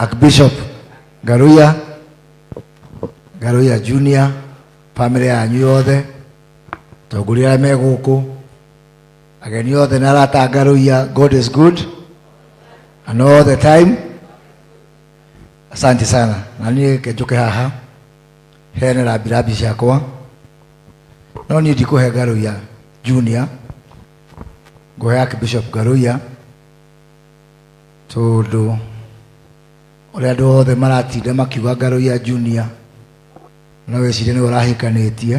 Archbishop Garuya, Garuya Junior, family yanyu yothe, tongoria arĩa me gũkũ, ageni othe na arata a Garuya, God is good and all the time. Asante sana, na niĩ ngenjũke haha. heane rambirambi ciakwa no niĩ ndikũhe ngarũia junior ngũhe archbishop ngarũia tondũ ũrĩa andũ othe maratinda makiuga ngarũia junior no wĩcirie nĩwe ũrahĩkanĩtie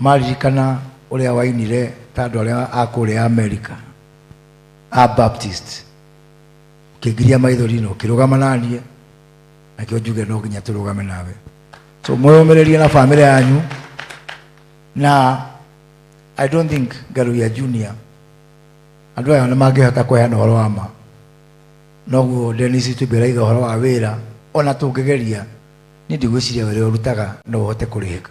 maririkana ũrĩa wainire ta andũ arĩa a kũrĩa amerika a baptist ũkĩngiria maithori na ũkĩrũgama naniĩ nakĩo njuge no nginya tũrũgame nawe so mwĩyũmĩrĩrie na bamĩrĩ yanyu na i don't think ngaruya junior andå aya nä mangä hota kweheana å horo wa ma noguo denis tubä raiga å horo wa wä ra ona tå ngä geria nä ndigwä ciria wä rä å rutaga no å hote kå rä hä ka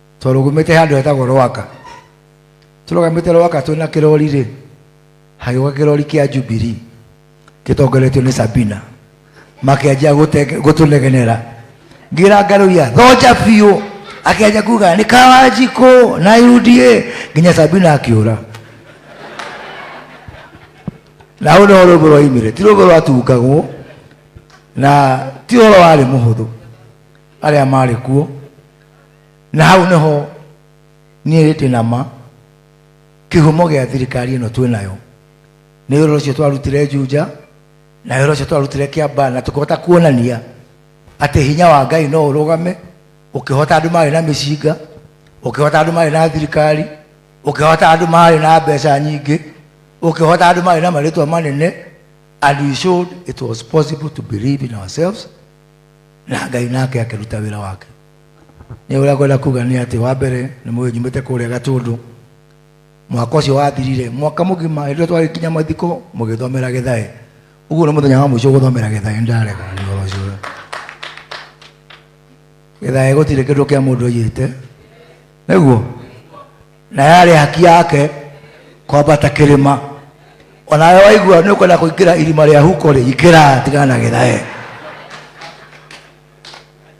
twarũgũmĩte handũ hetagwo rwaka tũrũgamĩte rwaka twĩ na kĩrori rĩ hagĩũka kĩrori kĩa jubiri gĩtongoretio nĩ sabina makĩanjia gũte- gũtũnegenera ngira ngarũia thonja biũ akĩanjia kuga nĩ kawanjikũ na uda nginya sabina akĩũra na hau nĩho rũmbũ rwaimire ti rũmbũ rwatungagwo na ti ũhoro warĩ mũhũthũ arĩa marĩ kuo na hau nĩho niĩ ndĩ na ma kĩhumo gĩa thirikari ĩno twĩ nayo nĩ wĩra ũcio twarutire njunja na wĩra ũcio twarutire kĩamba na tũkĩhota kuonania atĩ hinya wa ngai no ũrũgame ũkĩhota andũ marĩ na mĩcinga ũkĩhota andũ marĩ na thirikari ũkĩhota andũ marĩ na mbeca nyingĩ ũkĩhota andũ marĩ na marĩtwa manene and we showed it was possible to believe in ourselves na ngai nake akĩruta wĩra wake nĩ ũrĩa ngwenda kuga nĩ atĩ wa mbere nĩ mũĩ nyumĩte kũrĩa gatũndũ mwaka ũcio wathirire mwaka mũgima hĩndĩ ĩrĩa twarĩkinya mathiko mũgĩthomera gĩthae ũguo nĩ mũthenya wa mũico gũthomera gĩthae nĩ ndarega nĩ ũhoro ũcio gĩthae gũtirĩ kĩndũ kĩa mũndũ aiyĩte nĩguo na yarĩ haki yake kwambata kĩrĩma onawe waigua nĩ ũkwenda kũingĩra irima rĩa huko rĩ ingĩra tigana na gĩthae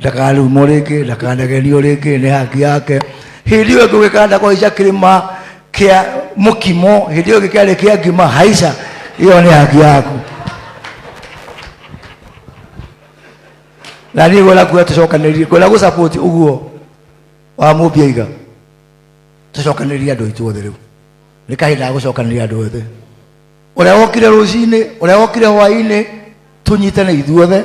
ndakarumwo rĩngĩ ndakanagerio rĩngĩ nĩ haki yake hĩndĩ ĩyo ngũgĩkanda kũhaica kĩrĩma kĩa mũkimo hĩndĩ ĩyo gĩkĩarĩ kĩa ngima haica ĩyo nĩ haki yaku na niĩ ngwenda kuga tũcokanĩrie ngwenda gũsapoti ũguo wa mũmbiaiga tũcokanĩrie andũ aitũ othe rĩu nĩ kahinda ga gũcokanĩria andũ othe ũrĩa wokire rũcinĩ ũrĩa wokire hwainĩ tũnyitane ithuothe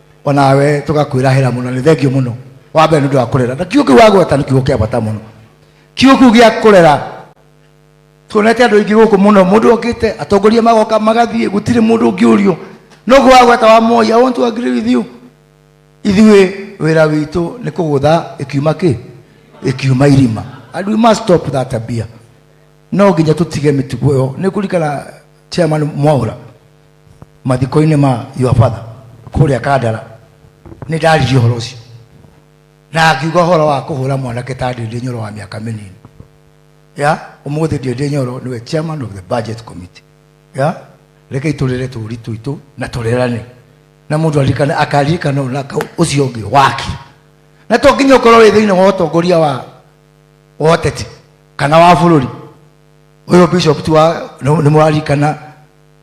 onawe tugakwirahira muno ni thengio muno wa mbere nundu wa kurera na kiugo kiu wagweta ni kiugo kia bata muno kiugo kiu gia kurera tuonete andu aingi guku muno mundu okite atongoria magoka magathie gutiri mundu ungiurio nugu wagweta wa moya i want to agree with you ithuĩ wĩra witũ nĩ kũgũtha ĩkiuma kĩ ĩkiuma irima and we must stop that tabia no nginya tũtige mĩtugo ĩyo nĩ kũrikana chairman mwaura mathiko-inĩ ma your father kũrĩa kandara nĩ ndaririe ũhoro ũcio na akiuga ũhoro wa kũhũra mwanake ta ndĩndĩ nyoro wa mĩaka mĩnini ya ũmũthĩ ndĩndĩ nyoro nĩwe chairman of the budget committee ya reke itũrĩre tũũri tũitũ na tũrerane na mũndũ arikane akaririkana ũna ũcio ũngĩ waki na to nginya ũkorwo wĩ thĩinĩ wa ũtongoria wa wa ũteti kana wa bũrũri ũyũ bishop tu wa nĩ mũrarikana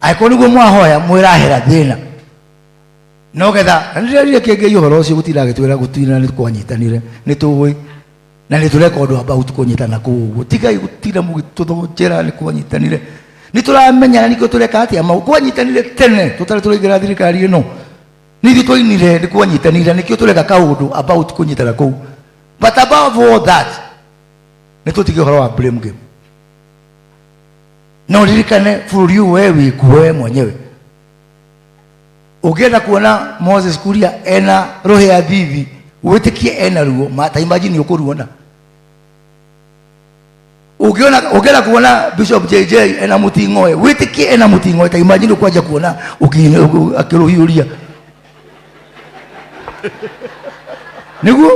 angĩkorwo nĩguo mwahoya mwĩrahera thĩna no getha na nĩrerire kĩngĩi ũhoro ũcio gũtinda agĩtwĩra gũtinda nĩ kwanyitanire nĩ tũĩ na nĩ tũreka ũndũ about kũnyitana kũu ũguo tigai gũtinda mũgĩtũthonjera nĩ kwanyitanire nĩ tũramenya na nĩkĩo tũreka atĩa mau kwanyitanire tene tũtarĩ tũraingĩra thirikari ĩno nĩ ithuĩ twainire nĩ kwanyitanire nĩkĩo tũreka kaũndũ about kũnyitana kũu but above all that nĩ tũtige ũhoro wa blame game na uririkane bũrũri ũyũ we wĩkuo we mwenyewe ũngĩenda kuona moses kuria ena rohe ya thithi wĩtĩkie ena ruo mata imagine ũkũruona ũngĩona ũngĩenda kuona bishop jj ena mũting'oe wĩtĩkie ena mũting'oe ta imagine ũkwanja kuona ũki- ũki- akĩrũhiũria nĩguo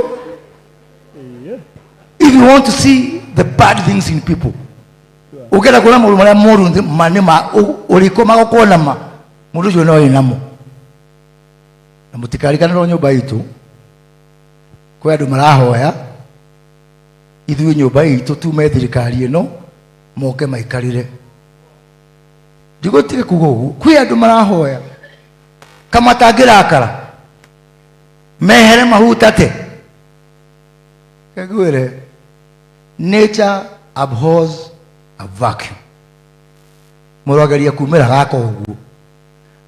if you want to see the bad things in people ukenda kuona maundu maria moru nthi- mani ma u- uriko magokuona ma mundu ucio noe namo na mutikarikanirwo nyumba itu kwi andu marahoya ithuĩ nyũmba itũ tume thirikari ĩno moke maikarĩre ndigũtige kuga ũguo kwĩ andũ marahoya kama tangĩrakara mehere mahutate ngwĩre nature abhors a vacuum mũrogeria kumĩra gaka ũguo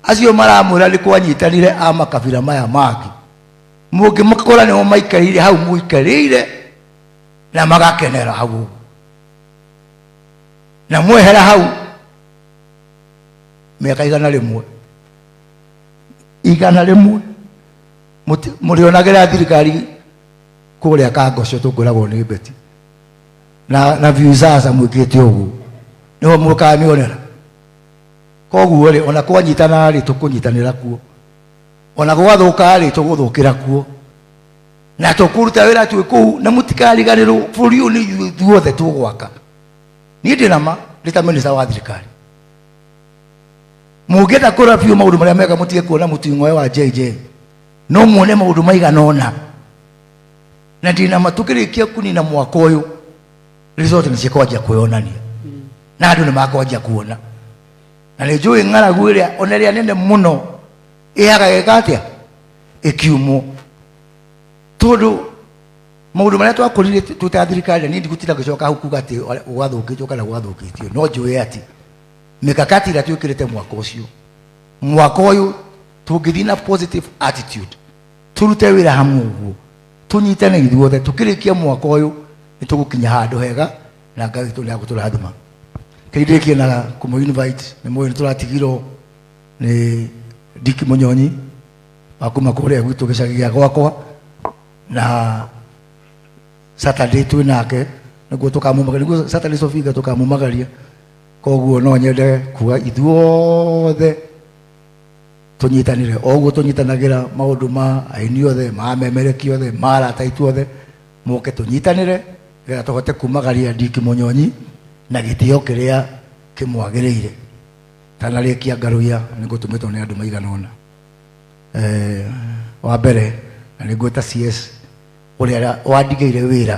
acio maramwĩra nĩ kwanyitanire a makabira maya mangĩ mũngĩmakora nĩmo maikarĩire hau mũikarĩire na magakenera hau ũguo na mwehera hau mĩaka igana rĩmwe igana rĩmwe mũti- mũrĩonagĩra thirikari kũrĩa kangoco tũngoragwo nĩ mbeti na na visaza mwĩkĩte ũguo nĩho mũkanionera koguo rĩ ona kwanyitana rĩ tũkũnyitanĩra kuo ona gwathũka rĩ tũgũthũkĩra kuo na tũkũruta wĩra twĩ kũu na mũtikariganĩrwo bũrũri ũyũ nĩ ithuĩ ithuothe tũgwaka niĩ ndĩ nama ndĩ ta minista wa thirikari mũngĩenda kũra biũ maũndũ marĩa mega mũtige kuona mũting'oe wa jj no muone maũndũ maigana ũna na ndĩna matũkĩrĩkia kunina mwaka ũyũ resort nĩ cikwambia kwĩyonania na andũ nĩ makwambia kuona na nĩ njũĩ ng'aragu ĩrĩa ona ĩrĩa nene mũno ĩhaga gĩka atĩa ĩkiumwo tondũ maũndũ marĩa twakũrire twĩ ta thirikari nĩ ndigũtinda ngĩcoka hau kuga atĩ gwathũkĩtio kana gwathũkĩtio no njũĩ atĩ mikakati ĩrĩa twĩkĩrĩte mwaka ũcio mwaka ũyũ tũngĩthiĩ na positive attitude tũrute wĩra hamwe ũguo tũnyitane ithuothe tũkĩrĩkia mwaka ũyũ nĩ tũgũkinya handũ hega na ngai witũ nĩ agũtũrathima kĩndĩkie na kũmũ invite nĩ mũĩ nĩ tũratigirwo nĩ ndiki mũnyonyi wa kuma kũrĩa gwitũ gĩcagi gĩa gwakwa na saturday twĩ nake nĩguo tũkamumagaria nĩguo saturday sofinga tũkamumagaria koguo no nyende kuga ithuothe tũnyitanĩre o ũguo tũnyitanagĩra maũndũ ma aini othe ma memereki othe ma arata aitũ othe moke tũnyitanĩre getha tũhote kumagaria ndiki mũnyonyi na gĩtĩo kĩrĩa kĩmwagĩrĩire tanarĩkia ngarũia nĩ ngũtũmĩtwo nĩ andũ maigana ũna Eh, wa mbere na nĩ ngwĩta cs ũrĩa wandigĩire wĩra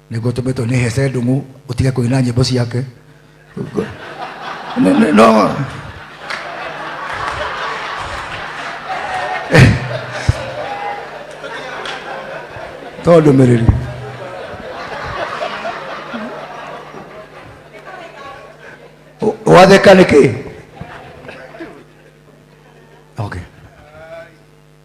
niguo tumetwo ni hece ndungu utige kuina nyimbo ciake Ni- ni- no to ndumiriri U- watheka niki okay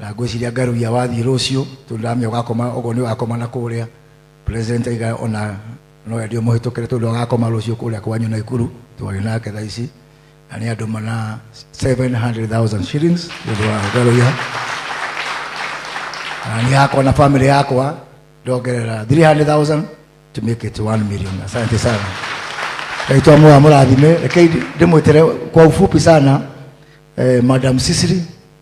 na ngwĩciria ngarugia wathiĩ rũciũ tondũ ndamenya ũgakoma ũguo nĩ ũgakoma na kũrĩa president aiga ona no endio mũhĩtũkĩre tondũ agakoma rũciũ kũrĩa kwanyu na ikuru twarĩ nake thaa ici na nĩ andũ mana 700,000 shillings nĩũndũ wa ngarugia na nĩ yakwa na family yakwa ndongerera 300,000 to make it 1 million asante sana naitwa moa mũrathime rekei ndĩmwĩtere kwa ufupi sana eh, madam sisiri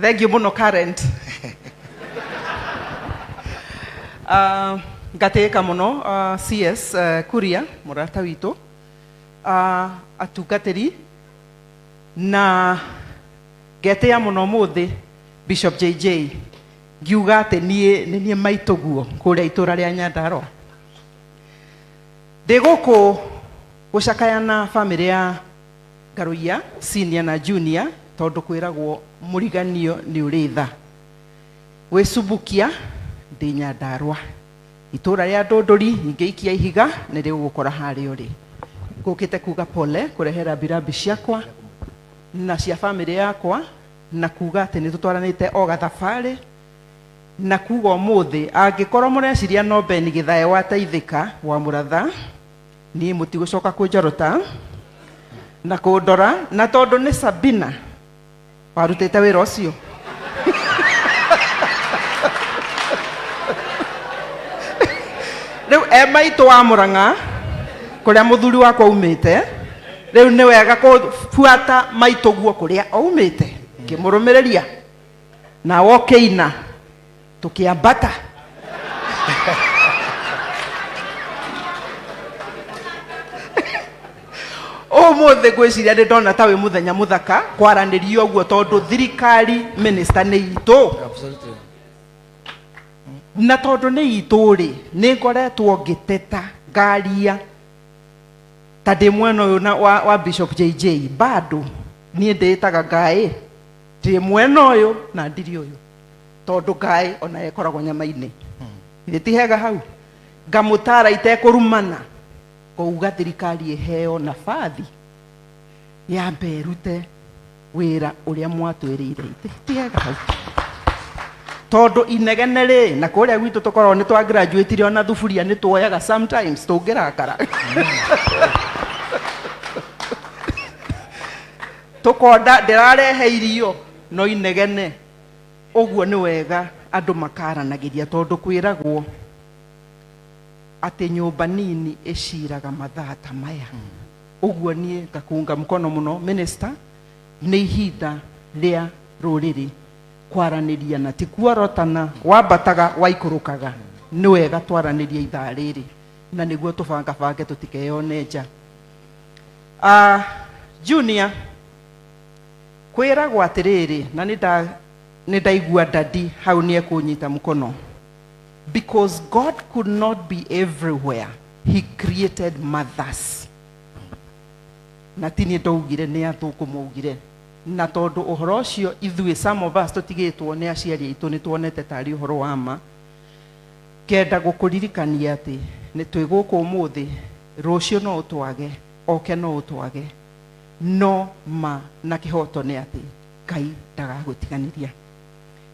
thengio muno current uh, ngatĩĩka mũno uh, cs uh, kuria mũrata witũ uh, atungatĩri na ngetĩa mũno mũthĩ bishop jj ngiuga atĩ niĩ nĩ niĩ maitũguo kũrĩa itũra rĩa nyandarwa ndĩ gũkũ Gũcakaya na famĩlĩ ya Ngarũiya senior na junior tondũ kwĩragwo mũriganio nĩ ũrĩ tha. Gwĩ Subukia ndĩ Nyandarũa. Itũũra rĩa Ndũndũri nyingĩ ikia ihiga nĩ rĩgũgũkora harĩa ũrĩ. Ngũkĩte kuuga pole kũrehe rambirambi ciakwa na cia famĩlĩ yakwa na kuuga atĩ nĩ tũtwaranĩte o gathabarĩ na kuuga ũmũthĩ angĩkorwo mũreciria no Ben Gĩthae wateithĩka, wa mũratha. niĩ mũtigũcoka kũnjorota na kũndora na tondũ nĩ sabina warutĩte wĩra ũcio rĩu e maitũ wa mũrang'a kũrĩa mũthuri wakwa umĩte rĩu nĩ wega kũbuata maitũguo kũrĩa oumĩte ngĩmũrũmĩrĩria na wokĩina Tukĩambata. Ũmũthĩ ngwĩciria nĩ ndona ta wĩ mũthenya mũthaka kwaranĩria ũguo tondũ thirikari minista nĩ itũ Absolutely. na tondũ nĩ itũ rĩ nĩ ngoretwo ngĩteta ngaria ta ndĩ mwena ũyũ na- wa, wa bishop jj bado niĩ ndĩĩtaga ngaĩ ndĩ mwena ũyũ na ndiri ũyũ tondũ ngaĩ o nayo ĩkoragwo nyama-inĩ githĩ ti hega hau ngamũtara itekũrumana ngauga thirikari ĩheo nabathi yambe ĩrute wĩra ũrĩa mwatwĩrĩire ithe ti hega hau tondũ inegene rĩ na kũrĩa gwitũ tũkoragwo nĩ twa graduatire ona thuburia nĩ tuoyaga sometimes tũngĩrakara tũkonda ndĩrarehe irio no inegene Ũguo nĩ wega andũ makaaranagĩria, tondũ kwĩragwo atĩ nyũmba nini ĩciraga mathaa ta maya. Ũguo niĩ ngakũnga mkono mũno minister, nĩ ihinda rĩa rũrĩrĩ kwaranĩria na ti kuorotana, wambataga waikũrũkaga. Nĩ wega twaranĩrie ithaa rĩrĩ na nĩguo tũbangabange tũtikeyone nja. Ah, Junior, Kwĩragwo atĩrĩrĩ, na nĩ nda, nĩ ndaigua Daddy hau nĩ ekũnyita mũkono. Because God could not be everywhere, He created mothers. Na ti niĩ ndaugire, nĩ athũngũ maugire. Na tondũ ũhoro ũcio ithuĩ, some of us, tũtigĩtwo nĩ aciari aitũ, nĩ tuonete tarĩ ũhoro wa ma. Ngenda gũkũririkania atĩ nĩ twĩ gũkũ ũmũthĩ, rũciũ no ũtwage, oke no ũtwage. No ma na kĩhoto nĩ atĩ Ngai ndagagũtiganĩria.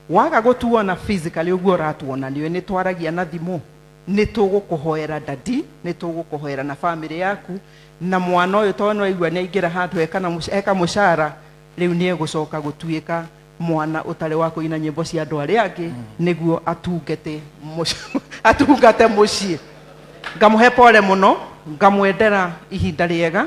Waga gũtuona physically ũguo ũratuona nĩũĩ nĩ twaragia na thimũ, nĩ tũgũkũhoera dadi, nĩ tũgũkũhoera na family yaku, na mwana ũyũ tondũ nĩwaigua nĩ aingĩra handũ eka na mũca- eka mũcara rĩu nĩ egũcoka gũtuĩka mwana ũtarĩ wa kũina nyĩmbo cia andũ arĩa angĩ nĩguo atungate mũc- atungate mũciĩ ngamũhe pole mũno ngamwendera ihinda rĩega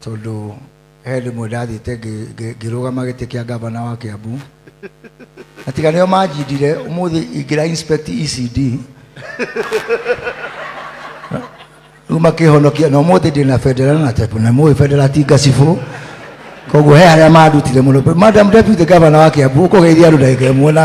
tondũ he hĩndĩ ĩmwe ndathiĩte ngĩ- ngĩ- ngĩrũgama gĩtĩ kĩa ngavana wa kĩambu na tiga nĩo manjindire ũmũthĩ ingĩra inspect ecd rĩu makĩhonokia na ũmũthĩ ndĩ na bendera na tepu na mũĩ bendera ti ngacibũ koguo he arĩa mandutire mũno madam deputy governor wa kĩambu ũkũgeithia andũ ndagĩka ĩmwe na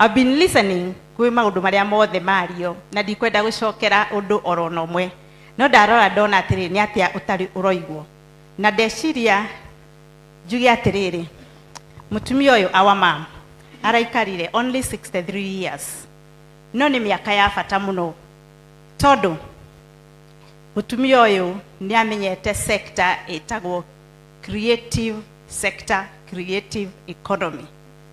I've been listening kwĩ maũndũ marĩa mothe mario na ndikwenda gũcokera ũndũ oro na ũmwe no ndarora ndona atĩrĩrĩ nĩ atĩa ũtarĩ ũroigwo na ndeciria njuge atĩrĩrĩ mũtumia ũyũ our mom araikarire only 63 years no nĩ mĩaka ya bata mũno tondũ mũtumia ũyũ nĩ amenyete sector ĩtagwo creative sector creative economy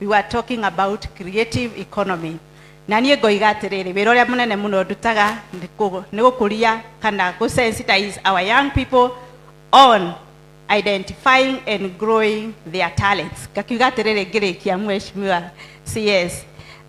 we were talking about creative economy na niĩ ngoiga atĩrĩrĩ wĩra ũrĩa mũnene mũno ndutaga nĩ kũ- nĩ gũkũria kana gũ sensitize our young people on identifying and growing their talents ngakiuga atĩrĩrĩ ngĩrĩkia mweshimiwa cs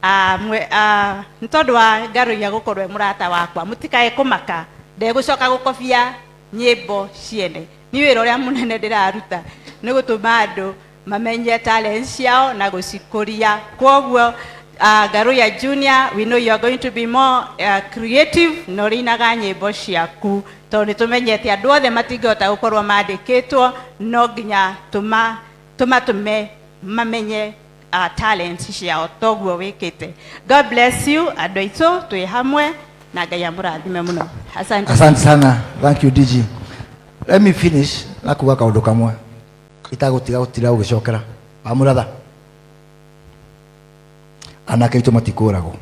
Ah, mwe- ah, nĩ tondũ wa ngarũia gũkorwo e mũrata wakwa mũtikae kũmaka ndegũcoka gũkobia nyĩmbo ciene nĩ wĩra ũrĩa mũnene ndĩraruta nĩ gũtũma andũ mamenye talent ciao na gucikuria kwoguo uh, garuya junior we know you are going to be more uh, creative na urinaga nyimbo ciaku tondu ni tumenyete andu othe matingihota gukorwo mandikitwo no nginya tuma tumatume mamenye uh, talent ciao toguo wikite god bless you andu aitũ twĩ hamwe na ngai amũrathime mũno asante asante sana thank you dg let me finish na kuga kaundu kamwe itagũtiga gũtira ũgĩcokera wamũratha anake aitũ matikũragwo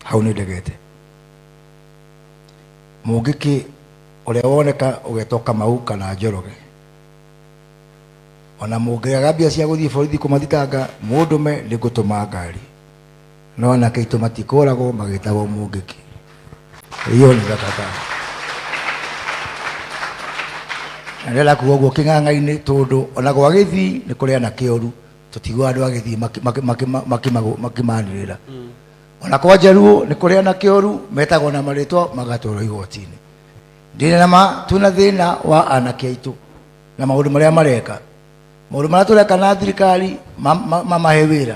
hau nĩ ndegete mũngĩkĩ ũrĩa woneka ũgetwo kamau kana njoroge ona mũngĩaga mbia cia gũthiĩ borithi kũmathitanga mũndũme nĩ ngũtũma ngari No anake aitũ matikũragwo magĩtagwo mũngĩki. Hiyo ni gatata. Na ndĩrenda kuga ũguo kĩng'ang'a-inĩ tondũ ona gwa gĩthii nĩ kũrĩ anake oru tũtiguaga andũ a gĩthii maki- maki- maki- makimago- makimanĩrĩra ona kwa njaruo nĩ kũrĩ anake oru metagwo na marĩtwa magatwarwo igoti-inĩ ndĩna na ma twĩna thĩna wa anake aitũ na maũndũ marĩa mareka maũndũ marĩa tũreka na thirikari ma- ma- mamahe wĩra